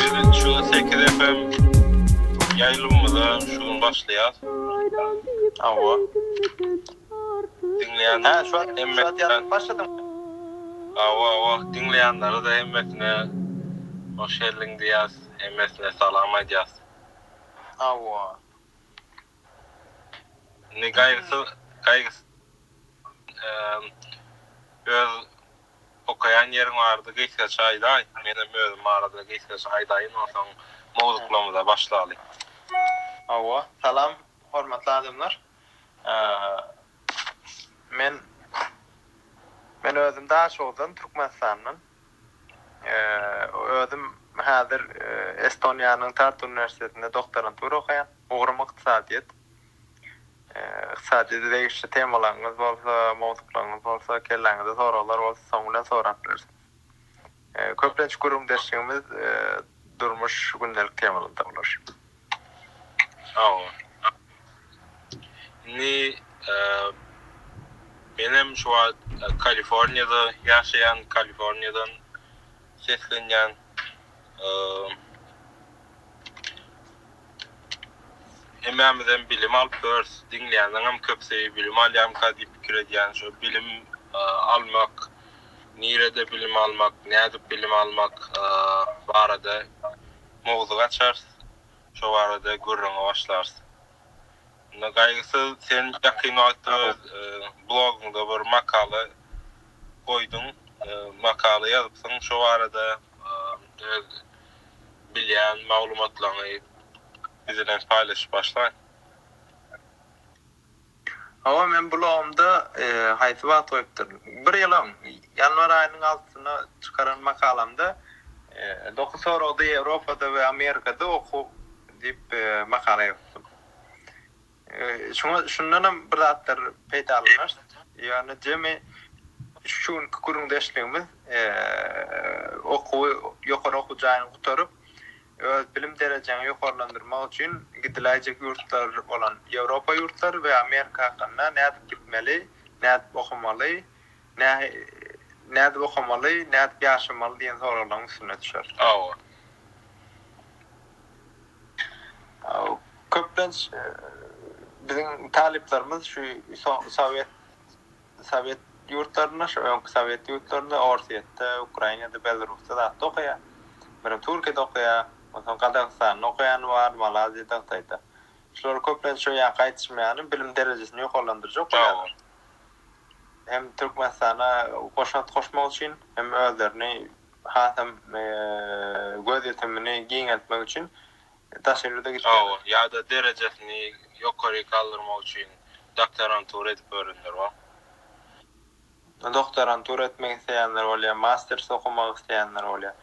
Biziň şu sekiz FM ýaýlymymyza şu gün başlaýas. Hawa. Diňleýän. Hä şu wagt ýazyp başladyň. Hawa hawa diňleýänlere de hemmesine hoş geldiň diýýäs. Hemmesine salam aýdýas. Hawa. Indi gaýgysyz gaýgysyz öz Okaýan ýeriň bardy gysgaça aýdaý. Menem özüm barada gysgaça aýdaýyn onsoň mowzuklarymyza başlaly. Hawa. Salam hormatly adamlar. Men Men özüm Daşoguzdan Türkmenistandan. Özüm häzir Estoniýanyň Tartu uniwersitetinde doktorantura okaýan. Ugrum ykdysadyýet. Ykdysady degişli temalaryňyz bolsa, mowzuklaryňyz bolsa, kelläňizde soraglar bolsa soň bilen sorap bilersiňiz. Köplenç gürrüňdeşligimiz durmuş, gündelik temalanda bolar. Sag boluň. Indi menem şu wagt Kaliforniýada ýaşaýan, Kaliforniýadan seslenýän. Hemmämizem bilim alyp yörs, diňleýänleňem köpüsi bilim alýamyka diýip pikir edýän. Şo bilim almak, nirede bilim almak, nädip bilim almak barada mowzuk açarys. Şo barada gürrüňe başlarys. Indi Gaýgysyz sen ýakyn wagtda öz blogyňda bir makala goýduň, makala ýazypsyň şo barada öz bilýän maglumatlaryňy biz bilen paýlaşyp başlaň. Hawa men blogumda haýsy wagt goýupdyryn. Bir ýylyň ýanwar aýynyň altysyna çykaran makalamda Dokuz soragda Ýewropada we Amerikada okuw diýip makala ýazypdym. Şuňa şundanam bir zatlar peýdalanarys. Ýöne jemi şu günki gürrüňdeşligimiz okuwy ýokary okuw jaýyny gutaryp, öz bilim derejeňi ýokarlandyrmak üçin gidiläýjek ýurtlar bolan Ýewropa ýurtlary we Amerika hakynda nädip gitmeli, nädip okamaly, nädip okamaly, nädip ýaşamaly diýen soraglaryň üstüne düşer. Hawa. Köplenç biziň talyplarymyz şu sowet sowet ýurtlarynda, şu öňki sowet ýurtlarynda, Orsýetde, Ukrainada, Belarusda zatda okaýar. Birem Türkiýede okaýar, onsoň Gazagystanda okaýany bar, Malaziýada, Hytaýda. Şular köplenç şu ýa gaýtyşmaýany bilim derejesini ýokarlandyrjak okaýarlar. Hem Türkmenistana goşant goşmak üçin, hem özlerini hasam gözýetimini giňeltmek üçin daşary ýurda gitdiler. Hawa, ýa-da derejesini ýokary galdyrmak üçin doktorantura edip ýörenler bar. Doktorantura etmek isleýänler bolýar, masters okamak isleýänler bolýar.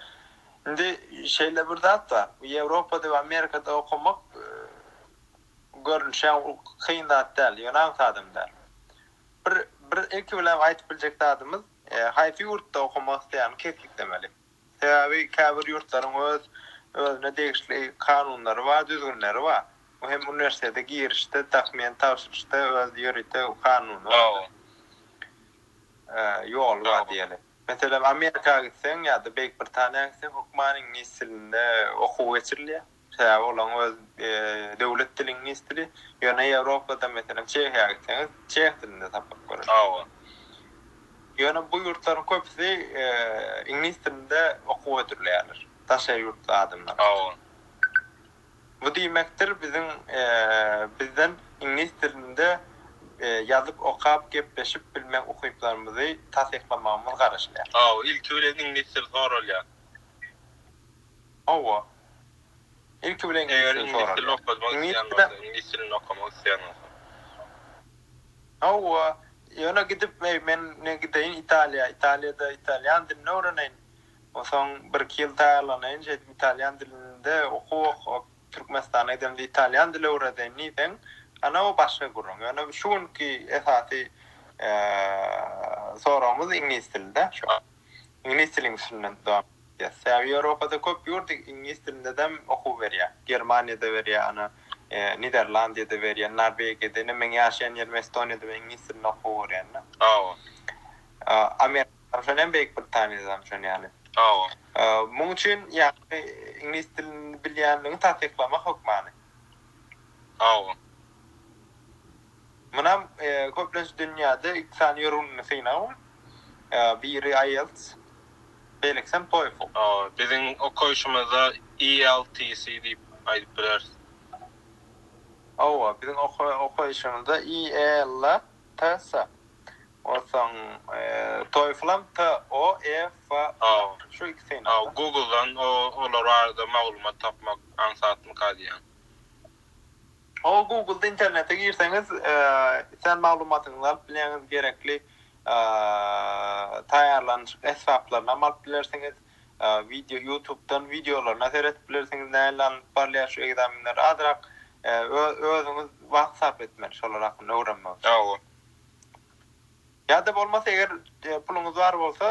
Indi şeýle bir zat bar, bu Ýewropada we Amerikada okamak görnüşem kyn zat däl, ýöne aňsadam däl. Bir, bir ilki bilen aýdyp biljek zadymyz, Haýsy ýurtda okamak isleýäni kesgitlemeli. Sebäbi käbir ýurtlaryň öz özüne degişli kanunlary bar, düzgünleri bar. Bu hem uniwersitete girişde, dokument tabşyryşda öz ýörite kanuny bar. Ýoly bar diýeli. Meselem Amerika gitseň ýa-da Beýik Britaniýa gitseň hökman iňlis dilinde okuw geçirilýär. Sebäbi olaryň öz döwlet dili iňlis dili. Ýöne Ýewropada, meselem, Çehiýa gitseňiz, çeh dilinde sapak görersiňiz. Ýöne bu ýurtlaryň köpüsi iňlis dilinde okuw hödürleýärler, daş el ýurtly adamlar. Bu diýmekdir, biziň bizden iňlis dilinde ýazyp, okap, gepleşip bilmek ukyplarymyzy tasyklamagymyz garaşylýar. Ilki bilen iňlis dili soralýar. Hawa. Ilki bilen ingilis dilini soralýar. Eger iňlis dilini okadmak isleýän bolsa, iňlis dilini okamak isleýän bolsa. Hawa. Ýöne gidip, eý, men indi gideýin Italiýa. Italiýada italýan dilini öwreneýin. Onsoň bir-iki ýyl taýýarlanaýyn, şeýdip italýan dilinde okuw okap, Türkmenistana gidemde italýan dili öwredeýin diýseň, ana o başga gürrüň. Ýöne şu günki esasy soragymyz iňlis dili-dä. Iňlis dilin üstünden dowam etýär. Sebäbi Ýewropada köp ýurt iňlis dilindedem okuw berýär. Germaniýada berýär, ana, Niderlandiýada berýär, Norwegiýada, ine, meň ýaşaýan ýerim Estoniýada men iňlis dilinde okuw görýän-de. Hawa. Amerikadam şony hem Beýik Britaniýadam şony ýaly. Hawa. Muň üçin ýagny iňlis dilini bilýänligiňi tassyklamak hökmany. Hawa. Munam köplenç dünýäde iki sany ýörgünli synagyň biri IELTS, beýlekisem TOEFL. Biziň okaýşymyzda ELTC diýip aýdyp bileris. Hawa, biziň okaýşymyzda IELTS, onsoň TOEFL-am TOEFL, şu iki synag. Hawa, Google-dan olar barada maglumat tapmak aňsatmyka diýýän. Hol Google-da internete girseňiz sen maglumatyňyzy alyp bilýäňiz, gerekli taýýarlanyşyk esbaplaryny hem alyp bilersiňiz, wideo YouTube-dan wideolaryna seredip bilersiňiz nähili alnyp barylýar şu ekzamenler azyrak özüňiz wagt sarp etmeli şolar hakynda öwrenmek üçin. Ýa-da bolmasa eger puluňyz bar bolsa,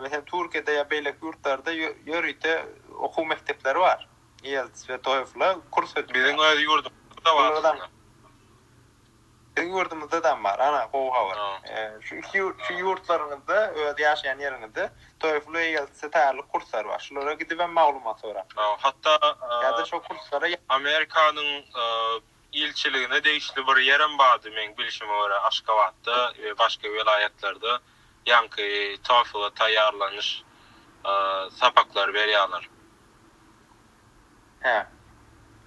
meselem Türkiýede ýa beýleki ýurtlarda ýörite okuw mekdepleri bar, IELTS we TOEFL-a kurs ötüp biziň öz ýurdumyzda bar aslynda. Biziň ýurdumyzdadam bar, ana gowy habar. Şu iki şu ýurtlaryňyzda öz ýaşaýan ýeriňizde TOEFL we IELTS-e taýýarlyk kurslary bar. Şulara gidibem maglumat sorap. Hatda ýa-da şo kurslara Amerikanyň ilçiligine degişli bir ýerem bardy, meň bilşime görä, Aşgabatda we başga welaýatlarda ýaňky TOEFL-a taýýarlanyş sapaklary berýärler. Hä.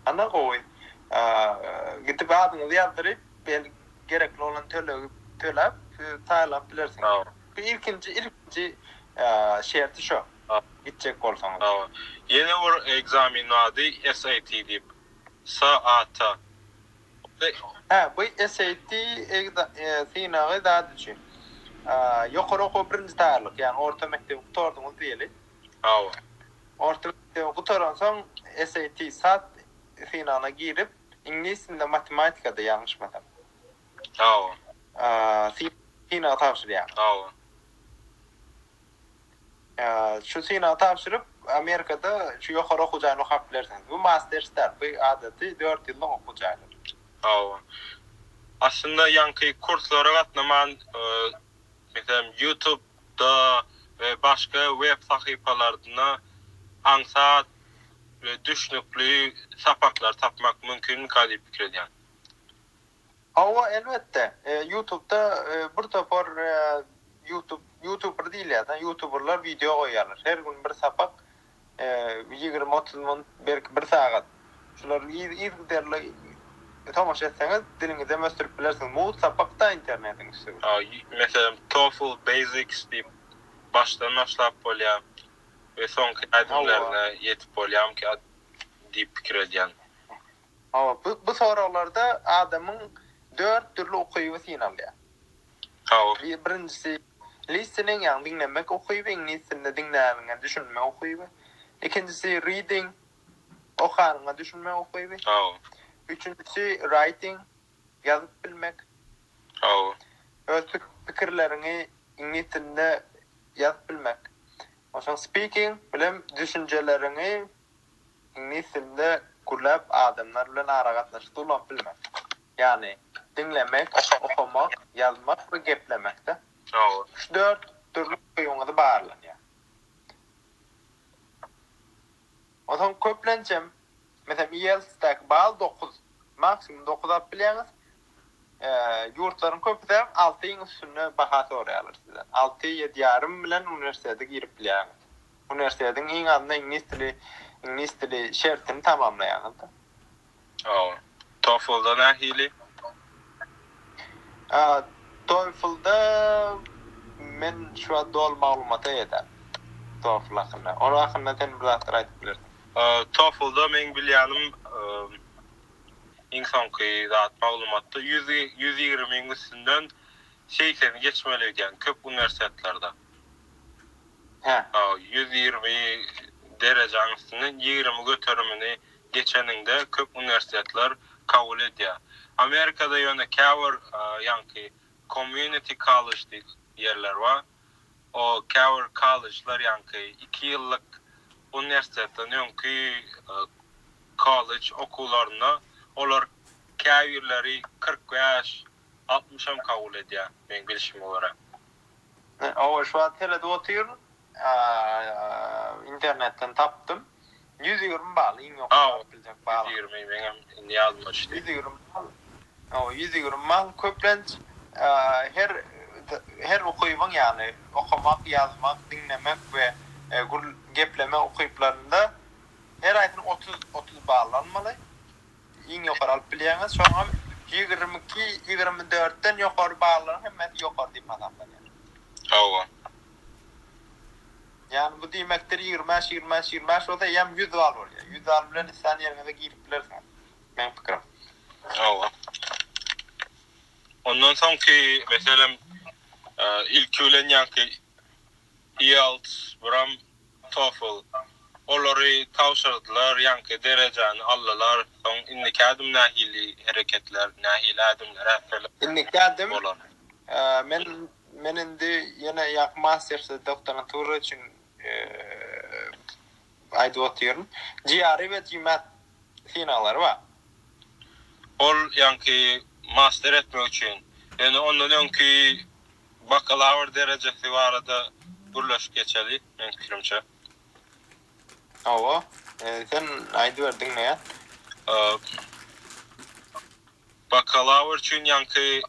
Ana gowy. Gidip adyňyzy ýazdyryp, bel, gerekli bolan tölegi töläp, siz saýlap bilersiňiz. Hawa. Bu ilkinji, ilkinji şerti şo. Hawa. Gitjek bolsaňyz. Hawa. Ýene bir ekzamen bardy, SAT diýip. Sa ata. Hä, bu SAT synagy zat üçin. Ýokary okuwa birinji taýýarlyk, ýagny orta mekdebi gutardyňyz diýeli. Hawa. Orta mekdebi gutaransoň SAT, sat synagyna girip, iňlis dilinde, matematikada, ýalňyşmasam. Hawa. Synagy tabşyrýaňyz. Hawa. Şu synagy tabşyryp, Amerikada şu ýokary okuw jaýyny okap bilersiňiz. Bu masters däl, bu adaty dört ýyllyk okuw jaýlary. Hawa. Aslynda ýaňky kurslara gatnaman, meselem, Ýutubda we başga web sahypalarynda aňsat we düşnükli sapaklary tapmak mümkinmikä diýip pikir edýän. Hawa elbetde ýutubda bir topar ýutub ýutuber diýilýär da ýutuberler wideo goýýarlar her gün bir sapak ýigrimi otuz minut belki bir sagat şular yzgiderli tomaşa etseňiz diliňizem ösdürip bilersiňiz mugt sapakda internetiň üsti meselem tofl basics diýip başdan başlap bolýar we soňky ädimlerine ýetip bolýarmyka diýip pikir edýän. Hawa, bu bu soraglarda adamyň dört dürli ukyby synalýar. Hawa. Bi birinjisi, listening, ýagny diňlemek ukyby, iňlis dilinde diňläniňe düşünmek ukyby. Ikinjisi, reading, okanyňa düşünmek ukyby. Hawa. Üçünjisi, writing, ýazyp bilmek. Hawa. Öz pik pikirleriňi iňlis dilinde ýazyp bilmek. Onsoň speaking, bilen düşünjeleriňi Iňlis dilinde gürläp adamlar bilen aragatnaşykda ulanyp bilmek. Ýagny, diňlemek, okamak, ýazmak we geplemekde. Üç-dört dürli ukybyňyzy barlanýar. Onsoň köplençem, meselem, IELTS-däki bal dokuz, maksimum dokuz alyp bilýäňiz. Ýurtlaryň köpüsem altyň üstünde baha soraýarlar sizden. Alty, ýedi ýarym bilen uniwersitete girip bilýäňiz. Uniwersitetiniň iň azynda iňlis dili iňlis dili şertini tamamlaýaňyzda. Hawa. TOEFL-da nähili? A, TOEFL-da men şu wagt doly maglumata eýe däl. TOEFL hakynda. Ol hakynda sen bir zatlar aýdyp bilersiň. TOEFL-da meň bilýänim iň soňky zat maglumatda ýüz ýüz ýigrimiň üstünden segseni geçmeli öýdýän köp uniwersitetlerde. Hä. Ýüz ýirmi derejäň üstüne ýigrimi göterimini geçeniňde köp uniwersitetler kabul edýär. Amerikada ýöne käbir ýaňky community college diýip ýerler bar. O käbir kollejler ýaňky iki ýyllyk uniwersitetden öňki kollej okuwlaryna olar käbirleri kyrk bäş, altmyş hem kabul edýär meň bilşime görä. Owaş wagt seredip otyryn. Internetden tapdym. Ýüz ýigrimi bal, iň ýokary baryp biljek bal. Ýüz ýigrimi, meňem indi ýadyma düşdi. Ýüz ýigrimi bal. Hawa, ýüz ýigrimi bal. Köplenç, her, her ukybyň, ýagny okamak, ýazmak, diňlemek we gür geplemek ukyplarynda her aýsyny otuz, otuz bal almaly. Iň ýokary alyp bilýäňiz, şoňam ýigrimi iki, ýigrimi dörtden ýokary ballaryň hemmesi ýokary diýip hasaplanýar. Hawa. Ýagny bu diýmekdir, ýigrimi bäş, ýigrimi bäş, ýigrimi bäş bolsa eýýäm ýüz bal bolýar. Ýüz bal bilen islän ýeriňize girip bilersiňiz, meň pikirim. Hawa. Ondan soňky meselem, ilki bilen ýaňky. Ielts, biram TOEFL. Olary tabşyrdylar, ýaňky derejäni aldylar. Soň indiki ädim nähili hereketler, nähili ädimler ätmeli? Indiki ädim bolar. Men men indi ýene ýaňky mastersde doktorantura üçin aýdyp otyryn. GRE we GMAT synaglary bar. Ol ýaňky master etmek üçin. Ýöne ondan öňki Bakalawr derejesi barada gürleşip geçeli meň pikirimçe. Hawa, sen aýdyber diňleýän. Bakalawr üçin ýaňky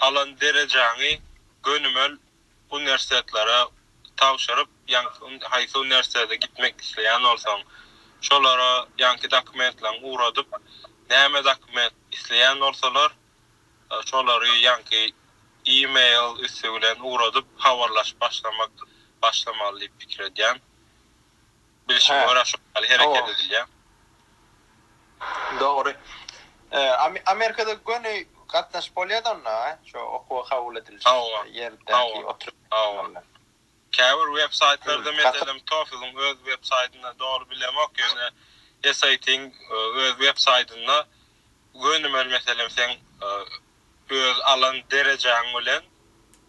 alan derejäňi gönümel uniwersitetlara tabşyryp, ýaňky haýsy uniwersitete gitmek isleýän bolsaň, şolara ýaňky dokumentleň ugradyp, näme dokument isleýän bolsalar, Şolary ýaňky e-mail üsti bilen ugradyp habarlaşyp başlamak başlamaly diýip pikir edýän. Bilşime görä şo ýaly hereket edilýär. Dogry. Amerikada göni gatnaşyp bolýada onda, şo okuwa kabul ediliş ýerdäki oturyş. Käbir websaýtlarda meselem TOEFL-iň öz websaýtynda dogry bilemok ýöne SAT-iň öz websaýtynda gönümel meselem seň öz alan derejäň bilen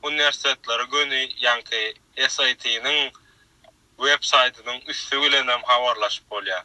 uniwersitetleri göni ýaňky SAT-niň websaýtynyň üsti bilenem habarlaşyp bolýar.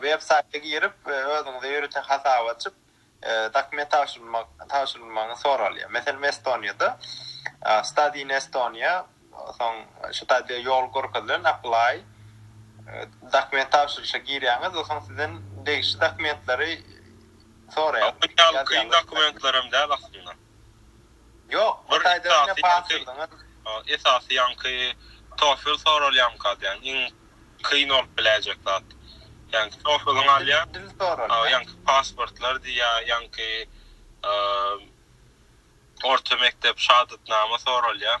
Web saýta girip, özüňize ýörite hasap açyp, dokument tabşyrylmagyňyz soralýar. Meselem, Estoniýada Study in Estonia, soň şu taýda ýol görkezilen Apply, dokument tabşyryşa girýäňiz we soň sizden degişli dokumentleri soraýar. Ýa bu ýaly kyn dokumentler hem däl aslynda. Ýok, bir taýdan ine basyrdyňyz. Esasy ýaňky tofel soralýamyka diýýän, iň kyn bolup biläýjek zat. Ýaňky tofeliňi alýaň. Dil soralýar. Ýaňky pasportlar diýýär, ýaňky orta mekdep şahadatnama soralýar.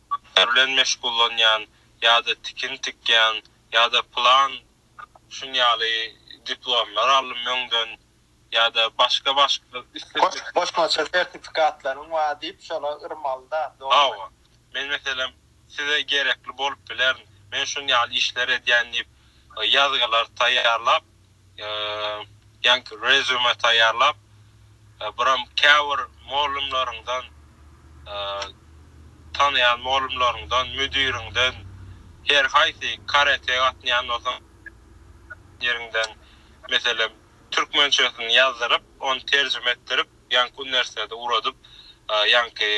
işler bilen meşgullanýan ýa-da tikin tikýän ýa-da plan şun ýaly diplomlar aldym öňden ýa-da başga başga isle. Goşmaça sertifikatlaryň bar diýip şola yrmalyda dogrymy. Hawa. Men meselem size gerekli bolup bilerin. Men şun ýaly işler edýän diýip ýazgylar taýýarlap ýaňky rezýume taýýarlap, buram käbir mugallymlaryňdan, tanaýan mugallymlaryňdan, müdiriňden, her haýsy karate gatnaýan bolsaň, ýeriňden, meselem, türkmençesini ýazdyryp, ony terjime etdirip, ýaňky uniwersitete ugradyp, ýaňky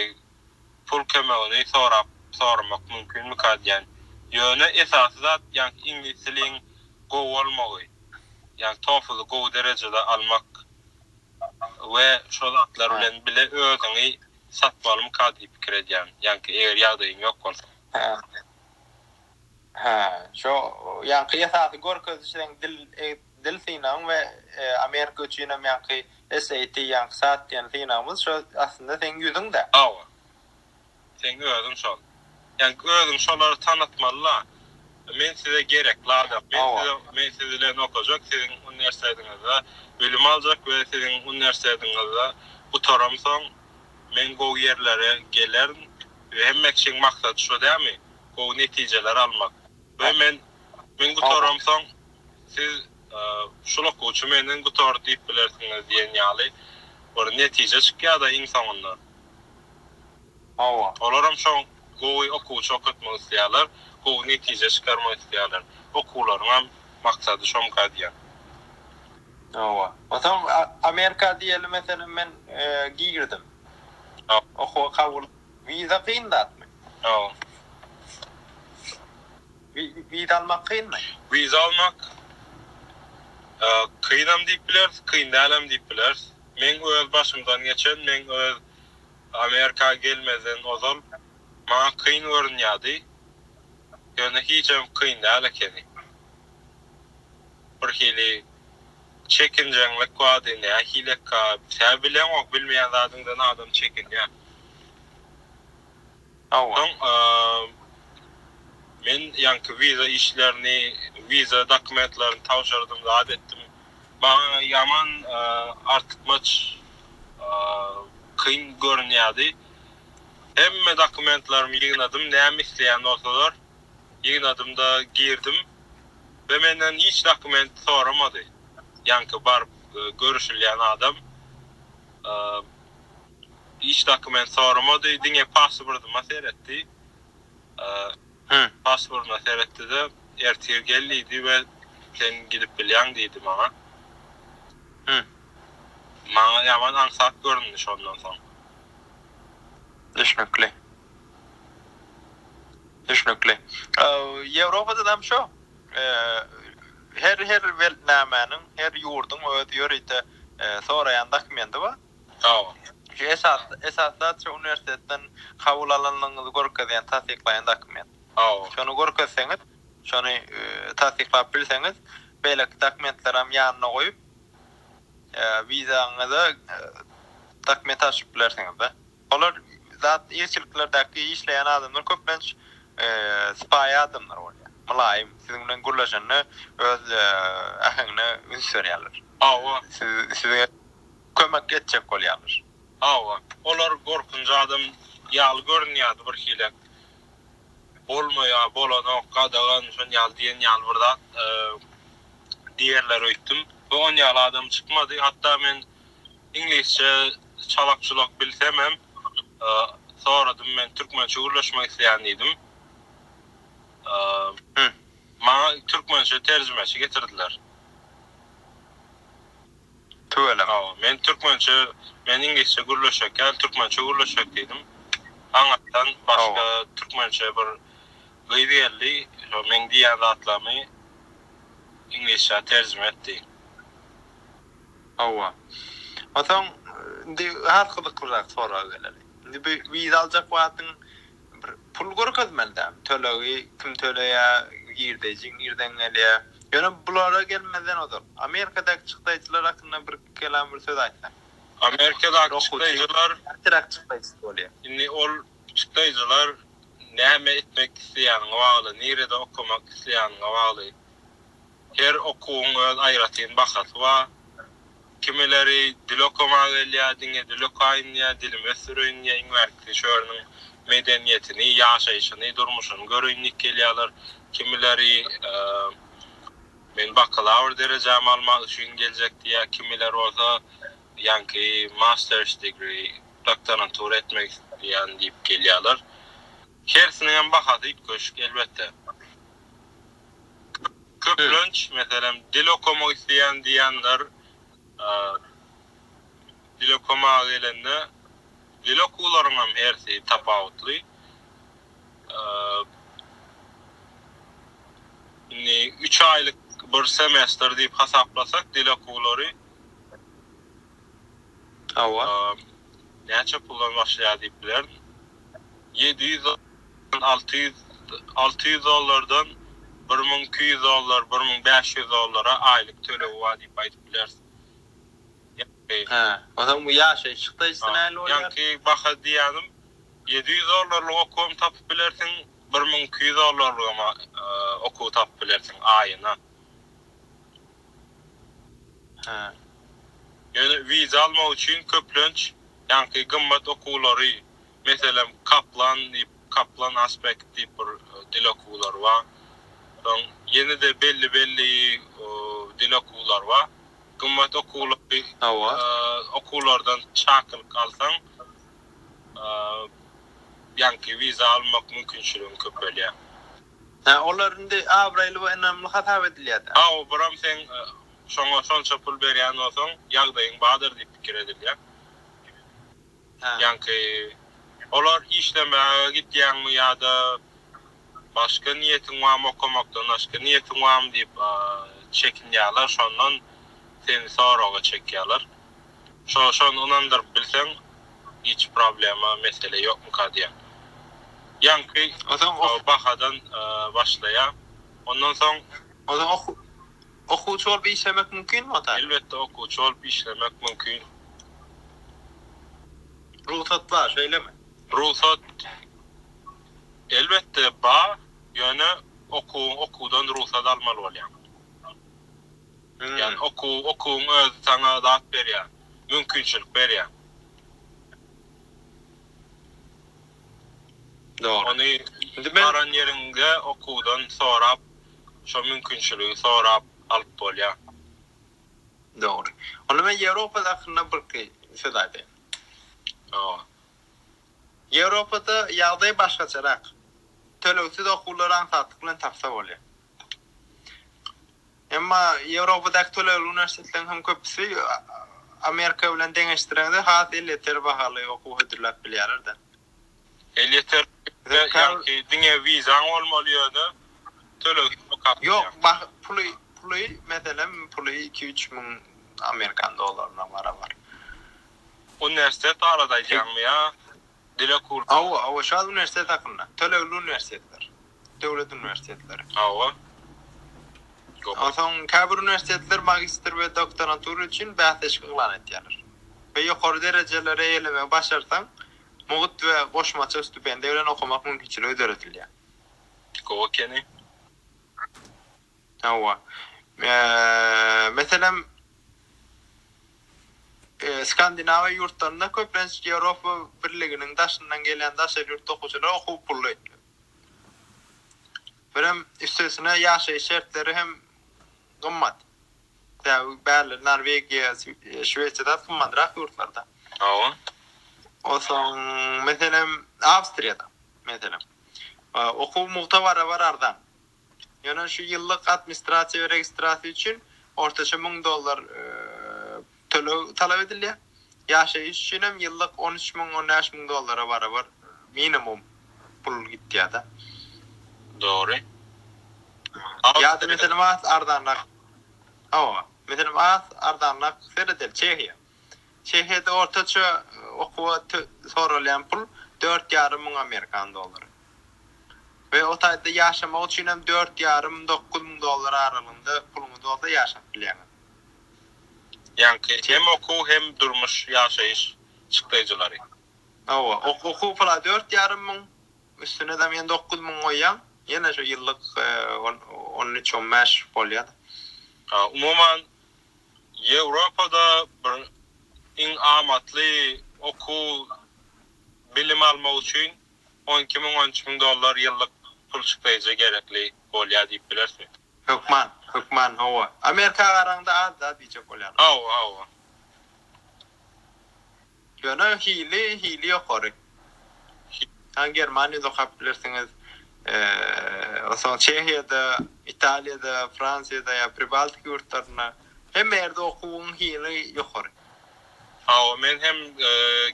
pul kömegini sorap soramak mümkinmika diýän. Ýöne esasy zat ýaňky iňlis diliň gowy bolmagy. Ýaňky TOEFL-y gowy derejede almak we şo zatlar bilen bile özüňi satmalymyka diýip pikir edýän. Ýaňky eger ýagdaýyň ýok bolsa. Hä, şo ýaňky esasy görkeziş seň dil dil synagyň we Amerika üçinem ýaňky SAT ýaňky sat diýen synagymyz şo aslynda seň ýüzüň-dä. Hawa. Seň özüň şol. Ýaňky özüň şolary tanatmaly la. Men size gerek ladak. Men size men siz bilen okajak siziň uniwersitetiňizde bilim aljak we siziň uniwersitetiňizde gutaramsoň men gowy ýerlere gelerin we hemme kişiň maksaty şo dämi? gowy netijeler almak. We men men gutaram soň siz şul okuwçy menden gutardy diýip bilersiňiz diýen ýaly bir netije çykýada iň soňunda. Hawa. Olaram şo gowy okuwçy okatmak isleýärler, gowy netije çykarmak isleýärler. Okuwlaryňam maksady şomka diýýän. Hawa. O soň Amerika diýeli meselem men girdim. Okuwa kabul Wiza kyn zatmy? Ýok. Wiza almak kynmy? Wiza almak kynam diýip bileris, kyn dälem diýip bileris. Meň öz başymdan geçen, men öz Amerika gelmezden ozal maňa kyn görünýärdi. Ýöne hijem kyn däl ekeni. Bir hili. Çekinjeňlik bady nähileka. Sä bileňok bilmeýän zadyňdan adam çekinýä. Hawa. Men ýaňky wiza işlerini wiza dokumentlerini tabşyrdym zat etdim. Maňa ýaman artykmaç kyn görünýädi. Hemme dokumentlerimi ýygnadym näme isleýän bolsalar. Ýygnadym-da girdim. Be menden hiç dokument soramady. Ýaňky baryp görüşilýän adam hiç dokument soramady, diňe pasportyma seretdi. Pasportyma seretdi-de, ertir gel diýdi we sen gidip bilýäň diýdi maňa. Maňa ýaman aňsat göründi şondan soň. Düşnükli. Düşnükli. Ýewropada-da hem şo. Her her weltnamäniň, her ýurduň öz ýörite soraýan dokumendi bar. Şu esas esas zat şo uniwersitetden kabul alanyňyzy görkezýän tassyklaýan dokument. Şony görkezseňiz, şony tassyklap bilseňiz, beýleki dokumentleri hem ýanyna goýup, wizaňyza dokument alşyp bilersiňiz-de. Olar zat ilçiliklerdäki işleýän adamlar köplenç sypaýy adamlar bolýar. Mylaýym, siziň bilen gürleşende öz äheňine üns berýärler. Hawa. Size kömek etjek bolýarlar. Hawa. Olar gorkunç adam ýaly görünýärdi birhili. Bolmaýa, bolanok, gadagan şon ýaly diýen ýaly bir zat diýerler öýtdüm. We on ýaly adam çykmady. Hatda men Iňlisçe çalak-çulak bilsemem, soradym, men türkmençe gürleşmek isleýän diýdim. Maňa türkmençe terjimeçi getirdiler. Tüweleme. Hawa, men türkmençe, men iňlisçe gürleşjek däl, türkmençe gürleşjek diýdim. Aňyrdan başga türkmençe bir gyz geldi, şo meň diýýän zatlarymy iňlisçä terjime etdi. Hawa. Onsoň, indi has gyzyklyrak soraga geleli. Indi bu wiza aljak wagtyň bir pul görkezmeli dämi? Tölegi kim töleýär, girdeji nirden gelýär? Ýöne bulara gelmezden ozal, Amerikadaky çykdaýjylar hakynda bir kelam, bir söz aýtsaň. Amerikadaky çykdaýjylar. Näçeräk çykdaýjysy bolýar? Indi ol çykdaýjylar näme etmek isleýäniňe bagly, nirede okamak isleýäniňe bagly. Her okuwyň öz aýratyn bahasy bar. Kimileri dil okamaga gelýär, diňe dil okaýyn diýýär, dilimi ösdüreýin diýýär, iň bärkisi şu ýeriniň medeniýetini, ýaşaýşyny, durmuşyny göreýin diýip gelýärler. Kimileri men bakalawr derejämi almak üçin geljek diýýär, kimiler bolsa ýaňky master's degree, doktorantura etmek isleýän diýip gelýärler. Hersiniň hem bahasy üýtgeşik elbetde. Köplenç, meselem, dil okamak isleýän diýenler, dil okamaga gelende, dil okuwlaryň hem hersi tapawutly. Indi üç aýlyk bir semestr diýip hasaplasak, dil okuwlary. Hawa. Näçe puldan başlaýar diýip bilerin. Ýedi ýüz dollardan alty ýüz alty ýüz dollardan bir müň iki ýüz dollar bir müň bäş ýüz dollara aýlyk tölegi bar diýip aýdyp bileris. Hä. Onsoň bu ýaşaýyş çykdajysy nähili bolýar? Ýaňky baha diýýänim ýedi ýüz dollarlyk okuwam tapyp bilersiň, bir müň iki ýüz dollarlygam okuw tapyp bilersiň aýyna. Hä. Ýöne wiza almak üçin köplenç ýaňky gymmat okuwlary, meselem, Kaplan diýip, Kaplan Aspect diýip bir dil okuwlary bar. Soň ýene-de belli-belli dil okuwlary bar. Gymmat okuwlary, okuwlardan çakylyk alsaň, ýaňky wiza almak mümkinçiligiň köpelýär. Hä, olar indi abraýly we ynamly hasap edilýär-dä. Hä, obaram seň şoňa şonça pul berýän bolsaň, ýagdaýyň bardyr diýip pikir edilýär. Hä. Ýaňky olar işlemäge gidýäňmi ýa-da başga niýetiň barmy, okamakdan başga niýetiň barmy diýip çekinýärler, şondan seni soraga çekýärler. Şo şony ynandyryp bilseň hiç problema mesele ýokmyka diýýän. Ýaňky okuw bahadan başlaýar. Ondan soň. Ozan okuwçy bolup işlemek mümkinmi ota? Elbetde okuwçy bolup işlemek mümkin. Rugsat bar şeýlemi? Rugsat elbetde bar, ýöne okuwyň okuwdan rugsat almaly bolýar. Ýagny okuw, okuwyň özi saňa zat berýär, mümkinçilik berýär. Dogry. Ony Indi men baran ýeriňde okuwdan sorap, şo mümkinçiligi sorap alyp bolýar. Dogry. Onda men Ýewropa hakynda birki söz aýdaýyn. Hawa. Ýewropada ýagdaý başgaçarak. Tölegsiz okuwlary aňsatlyk bilen tapsa bolýar. Emma Ýewropadaky tölegli uniwersitetleriň hem köpüsi Amerika bilen deňeşdireňde has elýeter bahaly okuw hödürläp bilýärler-de. Elýeter ýaňky diňe wizaň bolmaly ýa-da töleg hem okap bilýäňmi? Ýok, puly, puly, meselem, puly iki-üç müň amerikan dollaryna barabar. Uniwersitet barada aýdýaňmy ýa Dile kul. Hawa, hawa, şal uniwersitet hakynda. Tölegli uniwersitetler. Döwlet uniwersitetleri. Hawa. Onsoň käbir uniwersitetler magistr we doktorantura üçin bäsleşik yglan etýärler. We ýokary derejeleri eýelemegi başarsaň, mugt we goşmaça stipendiýa bilen okamak mümkinçiligi döredilýär. Gowy ekeni. Hawa. Meselem, Skandinawiýa ýurtlarynda köplenç Ýewropa Birliginiň daşyndan gelýän daşary ýurtly okuwçylar okuw pully. Birem üstesine ýaşaýyş şertleri hem gymmat. Sebäbi bärleri Norwegiýa, Şwesiýadan gymmatrak ýurtlarda. Hawa. Onsoň, meselem, Awstriýada, meselem, okuw mugta barabar arzan. Ýöne şu ýyllyk administrasiýa we registrasiýa üçin ortaça müň dollar töleg talap edilýär. Ýaşaýyş üçin hem ýyllyk on üç müň, on bäş müň dollara barabar minimum pul gitýär-de. Dogry. Ýa-da, meselem, az arzanrak, hawa, meselem, az arzanrak seredeli, Çehiýa. Çehiýada ortaça okuwa soralýan pul dört ýarym müň amerikan dollary we o taýda ýaşamak üçin hem dört ýarym, dokuz müň dollar aralygynda puluňyz bolsa ýaşap bilýäňiz. Ýaňky hem okuw hem durmuş, ýaşaýyş çykdaýjylary. Hawa, okuw pula dört ýarym müň, üstüne dam ýene dokuz müň goýýaň, ýene şu ýyllyk on üç, on bäş bolýar. Umuman, Ýewropada bir iň amatly okuw bilim almak üçin on iki müň on üç müň dollar ýyllyk pul çykdaýja gerekli bolýar diýip bilersiň. Hökman, hökman hawa. Amerika garaňda az-da diýjek bolýaryn. Hawa, hawa. Ýöne hili hili ýokary. Haý Germaniýada okap bilersiňiz. Onsoň Çehiýada, Italiýada, Fransiýada ýa Pribaltika ýurtlarynda hemme ýerde okuwyň hili ýokary. Hawa men hem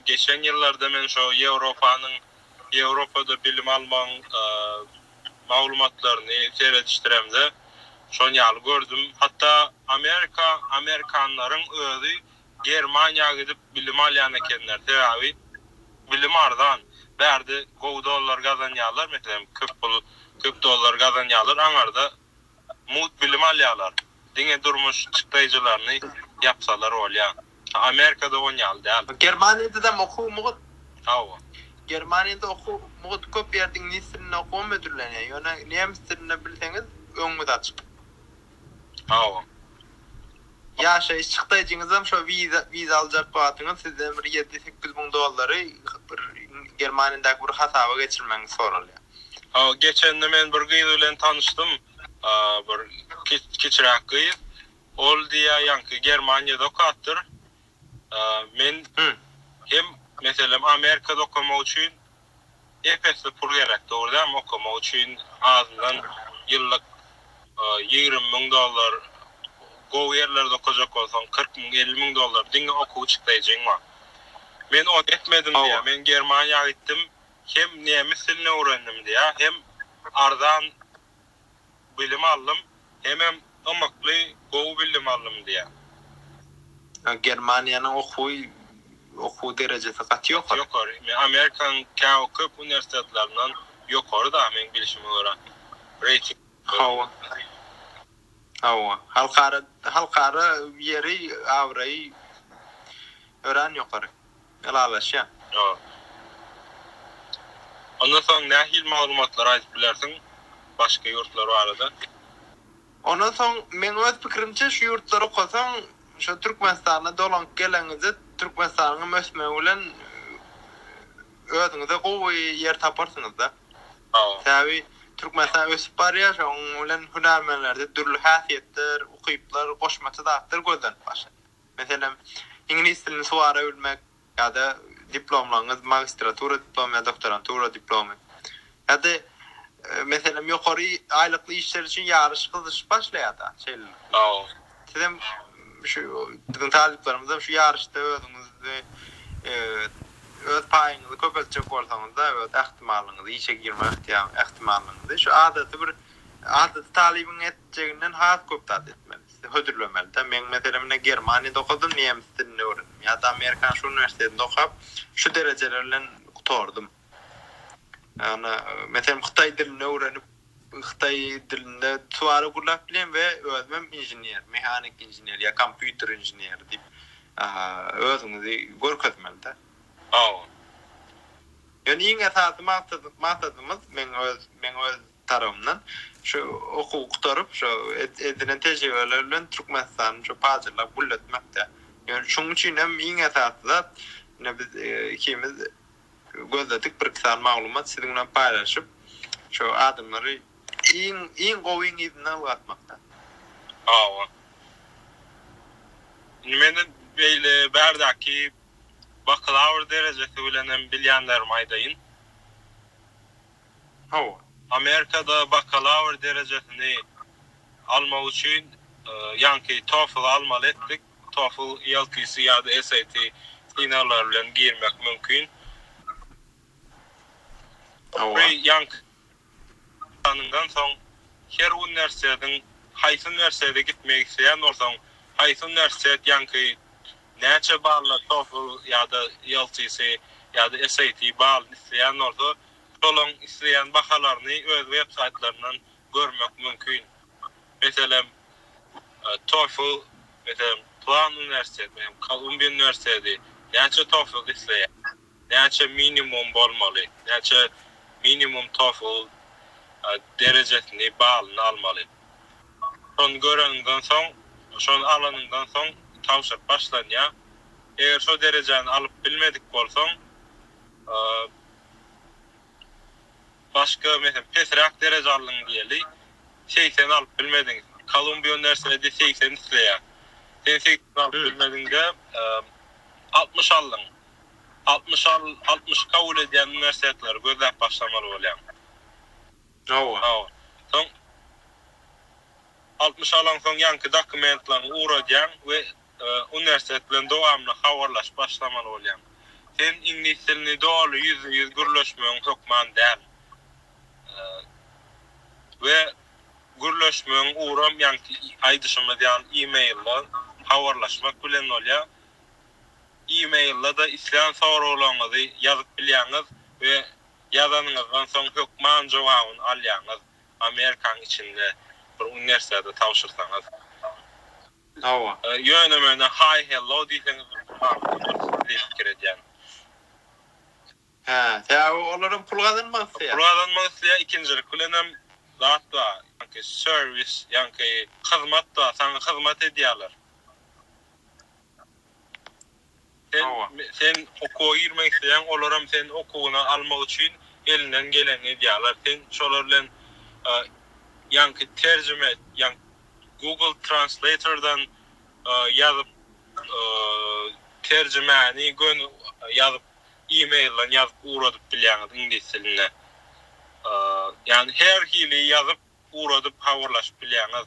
geçen ýyllarda men şo Ýewropanyň Ýewropada bilim almagyň maglumatlaryny seredişdiremde şon ýaly gördüm. Hatda Amerika Amerikanlaryň özi Germaniýa gidip bilim alýan ekenler, sebäbi bilim arzan, bärde gowy dollar gazanýarlar, meselem köp pul, köp dollar gazanýarlar, aňarda mugt bilim alýarlar, diňe durmuş çykdaýjylaryny ýapsalar bolýa. Amerikada on ýaly däl. Germaniýadam okuw mugt. Hawa. Germaniýada okuw mugt, köp ýerde iňlis dilinde okuwam hödürlenýär, ýöne nemis dilinde bilseňiz öňüňiz açyk. Sag boluň. Ýaşaýyş çykdaýjyňyzam şo wiza wiza aljak wagtyňyz sizden bir ýedi sekiz müň dollary bir Germaniýadaky bir hasaba geçirmegiňiz soralýar. Hawa geçende men bir gyz bilen tanyşdym. Bir kiçiräk gyz. Ol diýýär ýaňky Germaniýada okapdyr. Men hem meselem Amerikada okamak üçin ep-esli pul gerek dogry dämi okamak üçin azyndan ýyllyk ýigrimi müň dollar gowy ýerlerde okajak bolsaň kyrk müň elli müň dollar diňe okuw çykdaýjyň bar men ony etmedim diýýär men Germaniýa gitdim hem nemes dilini öwrendim diýýär hem arzan bilim aldym, hemem ymykly gowy billim aldym diýýär. Germaniýanyň okuwy okuw derejesi gaty ýokary. Gaty ýokary. Men Amerikanyň käw köp uniwersitetlerinden ýokary da meň bilişime görä. Reýting. Hawa. Hawa. Halkara halkara ýeri abraýy örän ýokary. ylalaşýan. Ýok. Ondan soň nähili maglumatlary aýdyp bilersiň başga ýurtlar barada? Ondan soň meň öz pikirimçe şu ýurtlary okasaň şo Türkmenistana dolanyp geleňizde Türkmenistanyňam ösmegi bilen özüňize gowy ýer taparsyňyzda. Sebäbi Türkmenistan ösüp barýar şoň bilen hünärmenlerde dürli häsiýetler, ukyplar, goşmaça zatlar gözlenip başlanýar. Meselem, iňlis dilini suwara bilmek ýa-da diplomlaryňyz, magistratura diplomy ýa doktorantura diplomy. Ýa-da, meselem, ýokary aýlykly işler üçin ýaryş gyzyşyp başlaýar-da, şeýle. Sizem şu biziň talyplarymyzam şu ýaryşda özüňizi, öz paýyňyzy köpeltjek bolsaňyz-da, öz ähtimallygyňyzy, işe girme ähtimallygyňyzy şu adaty bir, adaty talybyň etjeginden has köp zat etmeli. hödürlemeli-dä. Meň meselem ine Germaniýada okadym, nemis dilini öwrendim. Ýa-da Amerikanyň şu uniwersitetinde okap, şu derejeler bilen gutardym. Ýagny, meselem hytaý dilini öwrenip, hytaý dilinde suwara gürläp bilýän we özümem inžener, mehanik inžener ýa kompýuter inženeri diýip özüňizi görkezmeli-dä. Hawa. Ýöne iň esasy maksady, maksadymyz meň öz, meň öz tarapyndan şu okuwy gutaryp, şu edinen tejribeleri bilen Türkmenistanyň şu paýdarlaryny gülletmekde. Ýöne şonuň üçin hem iň esasy zat, ine biz ikimiz gözledik bir-iki sany maglumat siziň bilen paýlaşyp, şu adamlary iň, iň gowyň yzyna ylgatmakda. Hawa. Indi meniň beýle bärdäki bakalawr derejesi bilen hem bilýänlerimi aýdaýyn. Hawa. Amerikada bakalawr derejesini almak üçin ýaňky TOEFL-y almaly etdik. TOEFL, ELTC ýa-da SAT synaglary bilen girmek mümkin. Hawa. Ýaňky gutanyňdan soň her uniwersitetiň haýsy uniwersitete gitmek isleýän bolsaň, haýsy uniwersitet ýaňky näçe bally TOEFL ýa-da ELTC ýa-da SAT balyny isleýän bolsa, Şolaň isleýän bahalaryny öz websaýtlaryndan görmek mümkin. Meselem, TOEFL, meselem, Plan uniwersitet, meselem, Kolumbiýa uniwersiteti näçe TOEFL isleýär, näçe minimum bolmaly, näçe minimum TOEFL derejesini, balyny almaly. Şony göreniňden soň, şony alanyňdan soň tabşyryk başlanýar. Eger şo derejäni alyp bilmedik bolsaň, Başga meselem pesräk dereje aldyň diýeli segsen alyp bilmediň Kolumbiýa uniwersiteti segsen isleýär sen segsen alyp bilmediňde altmyş aldyň altmyş al altmyşy kabul edýän uniwersitetleri gözläp başlamaly bolýaň hawa hawa soň altmyş alaňsoň ýaňky dokumentlaryňy ugradýaň we Uniwersitet bilen dowamly habarlaşyp başlamaly bolýaň. Sen iňlis dilini doly ýüzbe-ýüz gürleşmegiň hökman däl. We gürleşmegiň ugram ýaňky aýdyşymyz ýaly e-mailda habarlaşmak bilen bolýar. E-mailda-da islän soraglaryňyzy ýazyp bilýäňiz we ýazanyňyzdan soň hökman jogabyny alýaňyz, Amerikanyň içinde bir uniwersitete tabşyrsaňyz. Hawa. Ýöne menä Hi Hello diýseňiz ussat bolarsyňyz diýip pikir edýän. Hä, sebäbi olar hem pul gazanmak isleýär. Pul gazanmak isleýär, ikinjilik bilen hem zat bar, ýaňky serwis, ýaňky hyzmat bar, saňa hyzmat edýärler. Sen sen okuwa girmek isleýäň, olaram seni okuwyna almak üçin elinden gelenini edýärler. Sen şolar bilen ýaňky terjime, ýaňky Google Translator-dan ýazyp terjimäni göni ýazyp e-mail-den ýazyp ugradyp bilýäňiz iňlis dilinde. Ýagny her hili ýazyp ugradyp habarlaşyp bilýäňiz.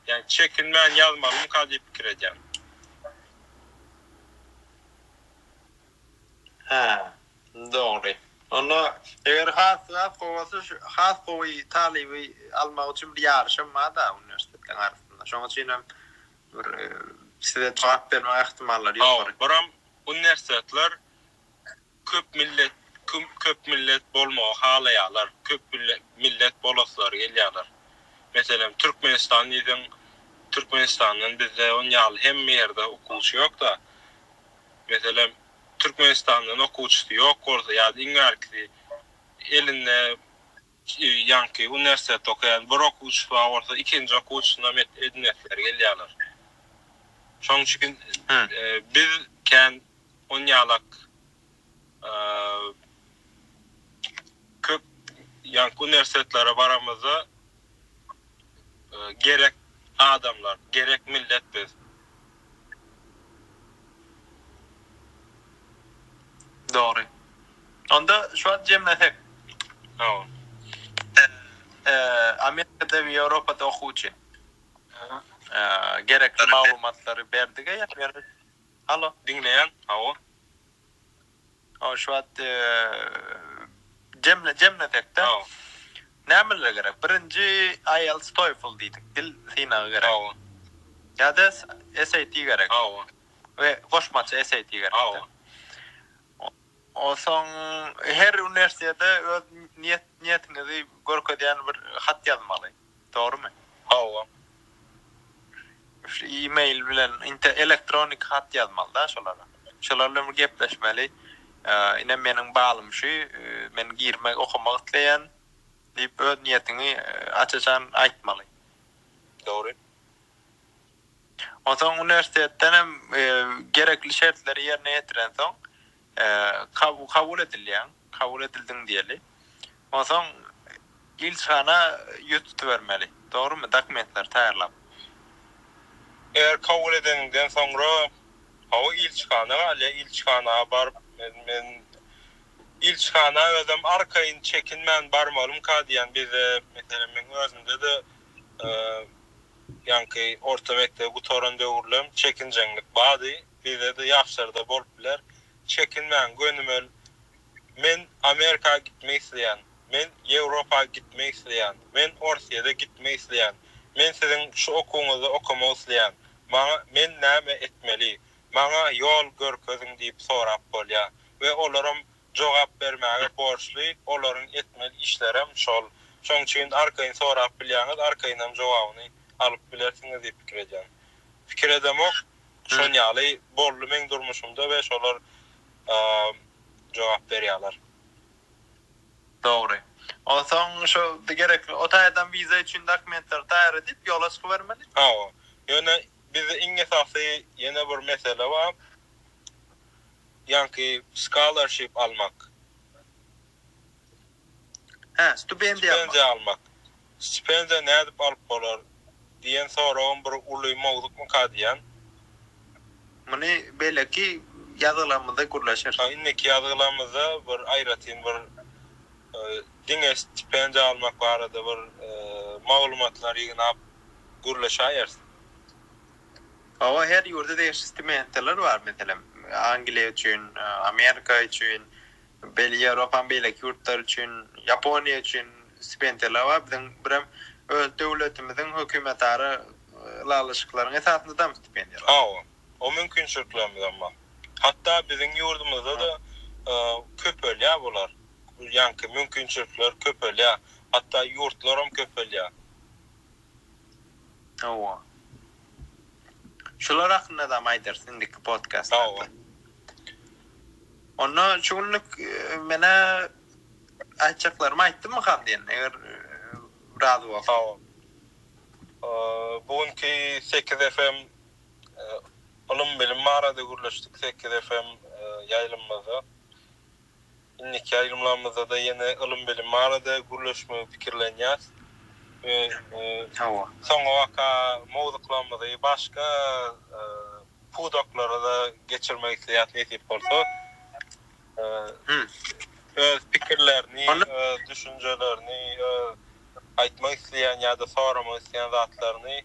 Ýagny çekinmän ýazmalymyka diýip pikir edýän. Hä, dogry. Onda eger has has gowy bolsa şu has gowy talyby almak üçin bir ýaryşam bar-da uniwersitetleriň arasynda. Şonuň üçin hem bir size jogap bermek ähtimallary ýokary. Hawa, biram uniwersitetler Köp millet köp millet bolmagy halaýarlar, köp millet bolaslary gelýärler. Meselem, Türkmenistan diýseň, Türkmenistandan bizde on ýaly hemme ýerde okuwçy ýok-da. Meselem, Türkmenistandan okuwçysy ýok bolsa ýa-da iň bärkisi elinde, Ýaňky uniwersitetde okaýan bir okuwçysyna bolsa ikinji okuwçysynam edinesileri gelýärler. Şoň üçin biz kän onýalak köp ýaňky uniwersitetlere baramyzda gerek adamlar, gerek millet biz. Dogry. Onda şu wagt jemlesek. Hawa. Amerikada we Ýewropada okuwçy. Gerekli maglumatlary berdiga ýa. Halo. Diňleýän. Hawa. Hawa şu wagt jemle jemlesek-de. Hawa. Nämeler gerek? Birinji IELTS TOEFL diýdik, dil synagy gerek. Hawa. Ýa-da SAT gerek. Hawa. We goşmaça SAT gerek. Hawa. Onsoň her uniwersitete öz niýet niýetiňizi görkezýän bir hat ýazmaly. Dogrymy? Hawa. Şu e-mail bilen inte elektronik hat ýazmalyda şolara. Şolar bilen bir gepleşmeli. Ine meniň balym şu, men girmek, okamak isleýän diýip öz niýetiňi aç-açan aýtmaly. Dogry. Onsoň uniwersitetden hem gerekli şertleri ýerine ýetirensoň, Kabul edilýäň, kabul edildiň diýeli. Onsoň ilçihana ýüz tutubermeli. Dogrymy? Dokumentleri taýýarlap. Eger kabul edeniňden soňra, hawa ilçihana galýa, ilçihana baryp men ilçihana özüm arkaýyn çekinmän barmalymka diýýän. Bizde meselem meň özümde-de ýaňky orta mekdebi gutaran döwürlem çekinjeňlik bardy. bizede ýagşarda bolup biler çekinmäň gönümel men amerika gitmek isleýän men ýewropa gitmek isleýän men orsýede gitmek isleýän men siziň şu okuwyňyzda okamak isleýän maňa men näme etmeli maňa ýol görkeziň diýip sorap bolýa we olaram jogap bermäge borçly olaryň etmeli işlerem şol şoň üçin arkaýyn sorap bilýäňiz arkaýynam jogabyny alyp bilersiňiz diýip pikir edýän pikir edemok Şon ýaly boldy meň durmuşymda we şolar jogap berýaler. Dogry. Onsoň şu gerekli o taýdan wiza üçin dokumentleri taýýar edip ýola çykybermeli? Hawa. Ýöne bizde iň esasy ýene bir mesele bar. Ýaňky scholarship almak. Hä, stipendiýa almak. Stipendiýa almak. Stipendiýa nädip alyp bolar? diýen soragym bir uly mowzukmyka diýýän. Muny beýleki ýazgylarymyzda gürleşeris. Hä, indiki ýazgylarymyzda bir aýratyn bir diňe stipendiýa almak barada bir maglumatlary ýygnap gürleşäýeris. Hawa, her ýurda degişli stipendiýalar bar. Meselem, Angliýa üçin, Amerika üçin, Beýle Ýewropanyň beýleki ýurtlary üçin, Ýaponiýa üçin stipendiýalar bar. Biziň birem öz döwletimiziň hökümetara ylalaşyklaryň esasyndadam stipendiýalar. Hawa, o mümkinçiliklerimizem bar. Hatda biziň ýurdumyzda-da köpelýär bular. Ýaňky mümkinçilikler köpelýär. Hatda ýurtlaram köpelýär. Hawa. Şular hakynda-dam aýdarys indiki podkastlarda. Hawa. Onda şu günlük menä aýtjaklarymy aýtdymmykam diýen, eger razy bolsaň. Bu günki sekiz FM ylym-bilim barada gürleşdik, sekiz FM ýaýlymymyzda. Indiki aýrymlarymyzda-da ýene ylym-bilim barada gürleşmegi pikirlenýäs. Hawa. Soňabaka mowzuklarymyzy başga pudaklara-da geçirmek isleýäs nesip bolsa. Öz pikirlerini, öz düşünjelerini, öz aýtmak isleýän ýa-da soramak isleýän zatlaryny.